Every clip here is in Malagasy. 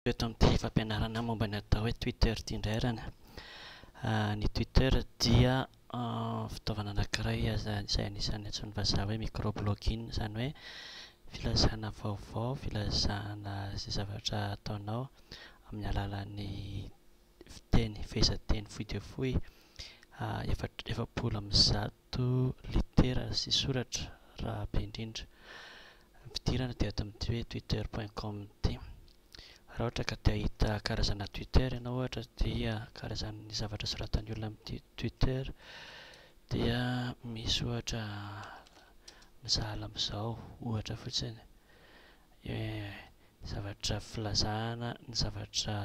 Teo eto amin'ity fampianarana momba ny atao hoe Twitter ity indray ary an. Ny Twitter dia fitaovana anankiray izay anisan'ny antsoin'ny vazaha hoe micro-blogging, izany hoe filazana vaovao, filazana izay zavatra ataonao amin'ny alalan'ny fiteny, fehezanteny fohy dia fohy, efatra, efapolo amby zato. Toa litera sy soratra raha be indrindra. Ny fidirana dia ato amin'ity hoe twitter point com ity. Raha ohatra ka te hahita karazana twitter ianao ohatra dia karazan'ny zavatra soratan'ny olona amin'ity twitter dia misy ohatra misahala amin'izao ohatra fotsiny zavatra filazana ny zavatra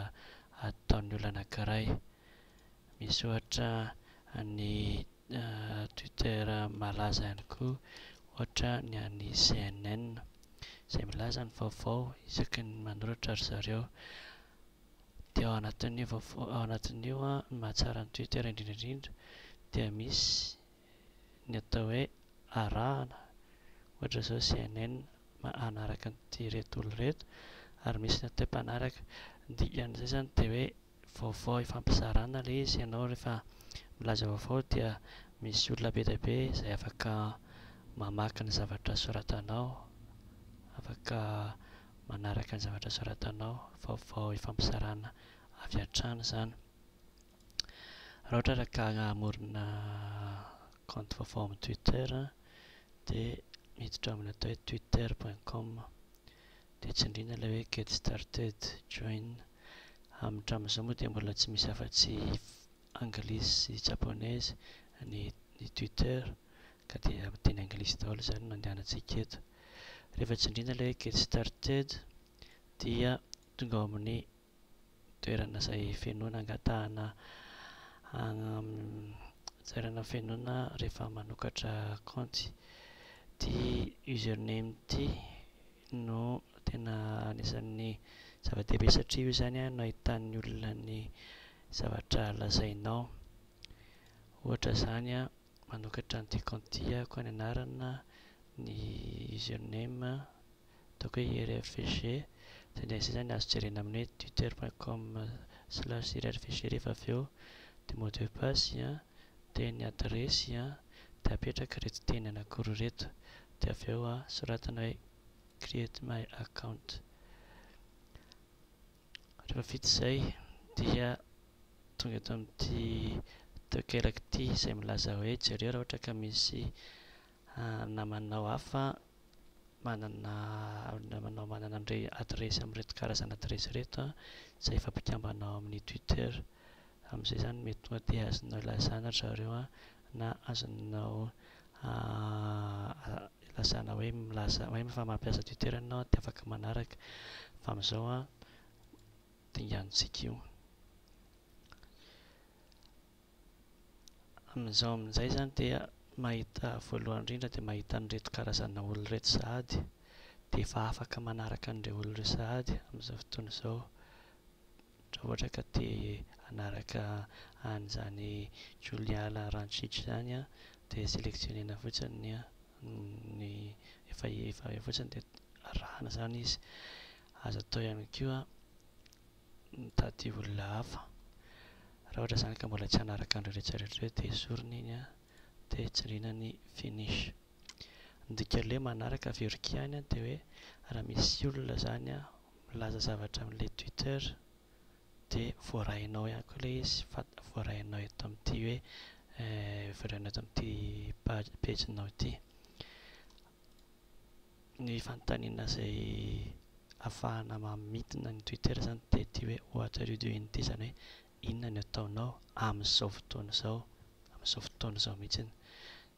ataon'ny olona anankiray. Misaotra an'i Twitter malaza ihany koa ohatra ny an'i CNN izay milaza ny vaovao isaky ny manoratra ry zareo. Dia ao anatin'io vaovao ao anatin'io an, ny mahatsara an'i Twitter indrindra indrindra dia misy ny atao hoe arahana ohatra izao CNN manaraka an'ireto olona ireto ary misy ny atao hoe mpanaraka ny dikan'izay izany dia hoe vaovao ifampizarana le izy ianao rehefa milaza vaovao dia misy olona be dia be izay afaka mamaky ny zavatra soratanao afaka manaraka ny zavatra soratanao vaovao ifampizarana avy hatrany izany raha ohatra raka hamorona kaonty vaovao amin'ny twitter dia miditra amin'ny atao hoe twitter point com Dia tsindrina ilay hoe get started, join. Hamintramin'izao moa dia mbola tsy misy afa-tsy anglisy sy japonaise ny ny Twitter ka dia teny anglisy daholo izany no andehanantsika eto. Rehefa tsindrina ilay hoe get started dia tonga ao amin'ny toerana izay fenoina angatahana toerana fenoina rehefa manokatra kaonty ity username ity no tena anisan'ny zava-dehibe satria io izany no ahitan'ny olona ny zavatra lazainao ohatra izany a manokatra an'ity kaonty ity aho koa ny anarana ny username toaka irfg dia ny sisa ny azo jerena amin'ny hoe twitter point com slash irfg rehefa avy eo dia mot de passe an dia ny adiresy an dia apetraka ireto teny anakiroa ireto dia avy eo an soratana hoe create my account rehefa vita izay dia tonga eto amin'ity toekaraka ity izay milaza hoe jereo raha ohatra ka misy Namanao hafa manana namanao manana an'ire adiresy amin'ireto karazana adiresy ireto an, izay efa mpikambana ao amin'ny Twitter. Amin'izay izany mety tonga dia azonao ilazana ry zareo an, na azonao ilazana hoe milaza hoe efa mampiasa Twitter ianao dia afaka manaraka. Fa amin'izao an, dingantsika io. Amin'izao amin'izay izany dia mahita voalohany indrindra dia mahita an'ireto karazana olona ireto sahady dia efa afaka manaraka an'ireo olona ireo sahady amin'izao fotoana izao raha ohatra ka te hanaraka an'izany Juliala Rancic izany an dia sélectionnena fotsiny ny ny efa efa eo fotsiny dia arahana izany izy azo atao ihany koa mitady olona hafa. Raha ohatra izany ka mbola tsy hanaraka an'ireo rehetra rehetra ireo dia esorina iny an, dia tsindriana ny finish. Ny dikan'ilay manaraka avy Orkya any dia hoe raha misy olona izany an milaza zavatra amin'ilay Twitter dia voarainao ihany koa ilay izy fa voarainao eto amin'ity hoe voarainao eto amin'ity page page-nao ity. Ny fanontaniana izay afahana mamintina ny Twitter izany dia ity hoe what are you doing ity izany hoe inona no ataonao amin'izao fotoana izao, amin'izao fotoana izao mihitsy.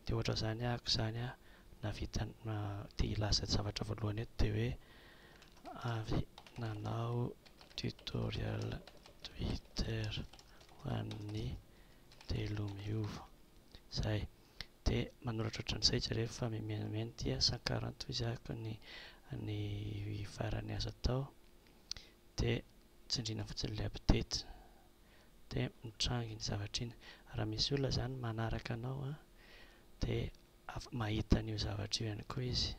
Dia ohatra izany ahako izany an, nahavita te hilaza zavatra voalohany eto dia hoe avy nanao tutorial Twitter ho an'ny telo miova. Izay. dia manoratra ohatran'izay jereo fa mimenamena dia sankaran toy izay araka ny ny farany azo atao dia tsindriana fotsiny ilay update dia mitrangy iny zavatra iny raha misy olona izany manaraka anao an dia af- mahita an'io zavatra io ihany koa izy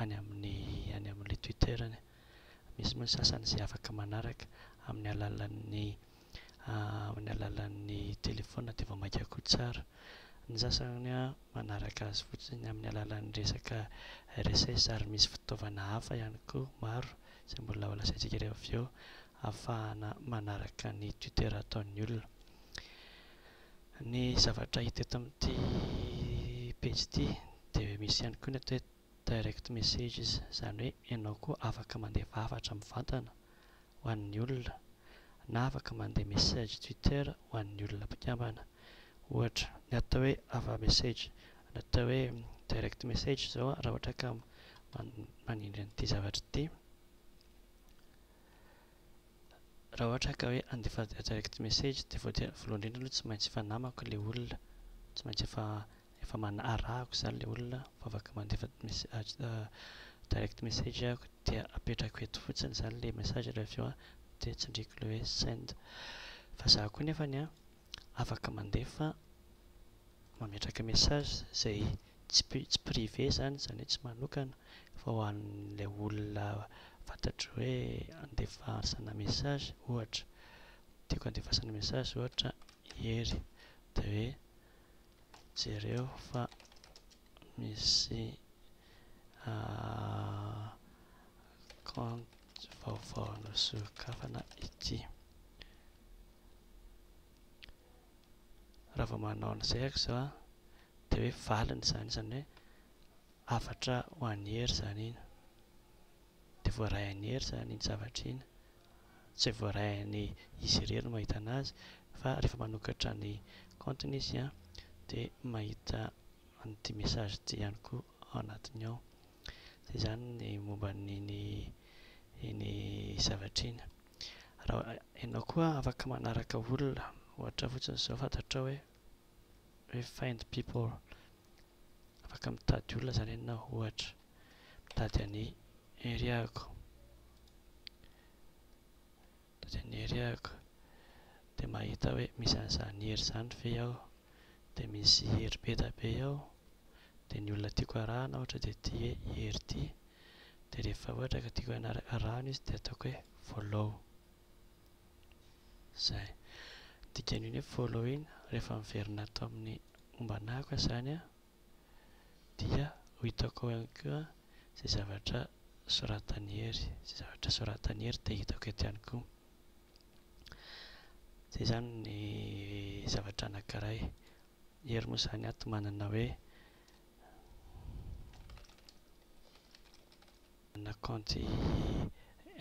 any amin'ny any amin'ilay twitter-ny misy moa ny sasany izay afaka manaraka amin'ny alalan'ny amin'ny alalan'ny telefaonina dia vao mainka koa tsara. Ny sasany manaraka azy fotsiny amin'ny alalan'ny resaka RSS ary misy fitaovana hafa ihany koa maro izay mbola ho lazaintsika ireo avy eo ahafahana manaraka ny Twitter ataon'ny olona. Ny zavatra hita eto amin'ity pejy ity dia misy ihany koa ny atao hoe direct messages, izany hoe ianao koa afaka mandeha fahavatra mivantana ho an'ny olona na afaka mandeha message Twitter ho an'ny olona mpikambana. Ohatra, ny atao hoe ava message, ny atao hoe direct message izao raha ohatra ka manindry an'ity zavatra ity, raha ohatra ka hoe handefa direct message dia voalohany indrindra aloha tsy maintsy efa namako ilay olona, tsy maintsy efa Efa mana arahako izany ilay olona fa afaka mandefa direct message aho dia apetrako eto fotsiny izany ilay message dia avy eo dia tsindriako ilay hoe send. Fa izaho koa nefany an, afaka mandefa, mametraka message izay tsy tsy privé izany, izany hoe tsy manokana fa ho an'ilay olona fantatro hoe andefasana message ohatra, tiako andefasana message ohatra i Hery dia hoe Jereo fa misy kaonty vaovao nosokafana ity. Raha vao manao an'izay aho izao an, dia hoe valiny izany, izany hoe hafatra ho an'i Hery izany iny, dia voaray an'i Hery izany iny zavatra iny. Tsy voarain'ny izy irery ny mahita anazy fa rehefa manokatra ny compte-ny izy dia mahita an'ity message ity ihany koa ao anatiny ao. Dia izany ny momba an'iny iny zavatra iny. Raha ianao koa afaka manaraka olona ohatra fotsiny izao fantatrao hoe hoe find people, afaka mitady olona zany ianao ohatra mitady an'i Heriako, mitady an'i Heriako dia mahita hoe misy an'izany Hery zany ve ao, dia misy Hery Bedabe ao, dia ny olona tiako arahana ohatra dia ity hoe i Hery ity, dia rehefa ohatra ka tiako araha arahanao izy dia ataoko hoe follow. Zay. Dikan'io ny hoe follow iny rehefa miverina ato amin'ny momba anah koa izany an, dia ho hitako ao ihany koa izay zavatra soratan'i Hery, izay zavatra soratan'i Hery dia hitako eto ihany koa. Zay izany ny zavatra anankiray. Hery moa izany ato manana hoe. Manana kaonty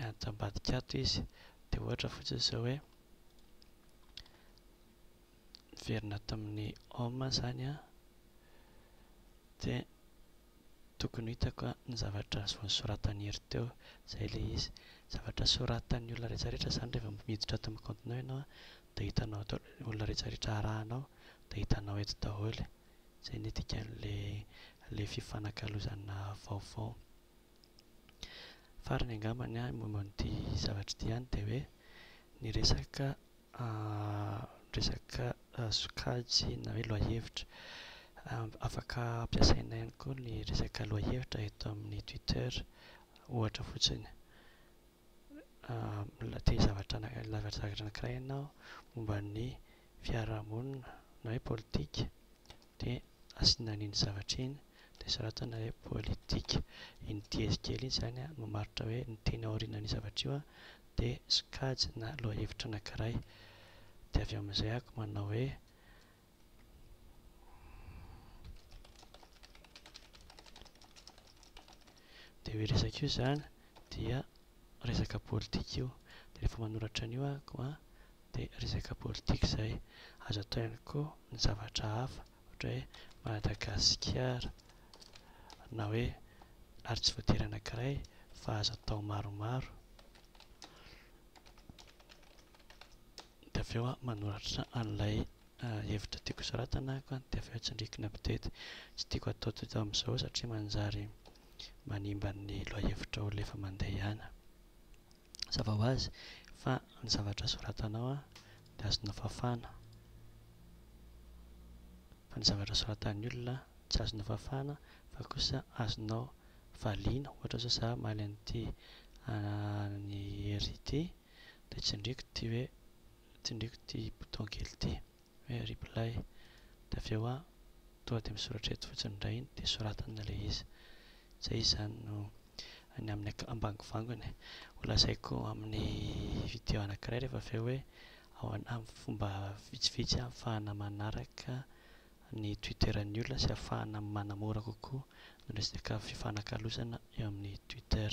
ento ambadika ato izy dia ohatra fotsiny izao hoe niverina ato amin'ny home izany aho dia tokony ho hitako ny zavatra nosoratan'iry teo, izay ilay izy. Zavatra soratan'ny olona rehetra rehetra izany rehefa miditra ato amin'ny kaontinao ianao dia hitanao ato olona rehetra rehetra arahanao dia hitanao eto daholo. Izay ny dikan'ilay fifanakalozana vaovao. Farany angamba ny ahy momba an'ity zavatra ity ihany dia hoe ny resaka resaka sokajy na hoe lohahevitra. Afaka ampiasaina ihany koa ny resaka lohahevitra eto amin'ny Twitter ohatra fotsiny. Mbola te-zavatra anankiray ianao momba ny fiarahamonina na hoe politika dia asiana an'iny zavatra iny dia soratana hoe politika. Iny diezy kely iny izany an, mamaritra hoe ny teny aorianan'io zavatra io dia sokajy na lohahevitra anankiray. Dia avy eo amin'izay ako manao hoe. Dia io resaka io izany dia resaka politika io de rehefa manoratra an'io ako a de resaka politika zay azo atao ihany koa ny zavatra hafa ohatra hoe Madagasikara na hoe ary tsy voatery anankiray fa azo atao maromaro de avy eo aho manoratra an'ilay hevitra tiako soratana ako a de avy eo tsindriko ny update tsy tiako atao toy teo amizao satria manjary manimba ny lohahevitrao rehefa mandeha ihany an! Hazava ho azy fa ny zavatra soratanao dia azonao fafana fa ny zavatra soratan'ny olona tsy azonao fafana fa kosa azonao valiana, ohatra izao za hamaly an'ity an'i Hery ity dia tsindriako ity hoe, tsindriako ity bouton kely ity. Hoe reply. Dia avy eo aho tonga dia misoratra eto fotsiny indray dia soratana ilay izy. Izay izany no any amin'ny ak- ambangovangony. Ho lazaiko amin'ny video anankiray rehefa avy eo hoe ahoana amin'ny fomba vitsivitsy ahafahana manaraka ny Twitteran'ny olona sy ahafahana manamora kokoa ny resaka fifanakalozana eo amin'ny Twitter.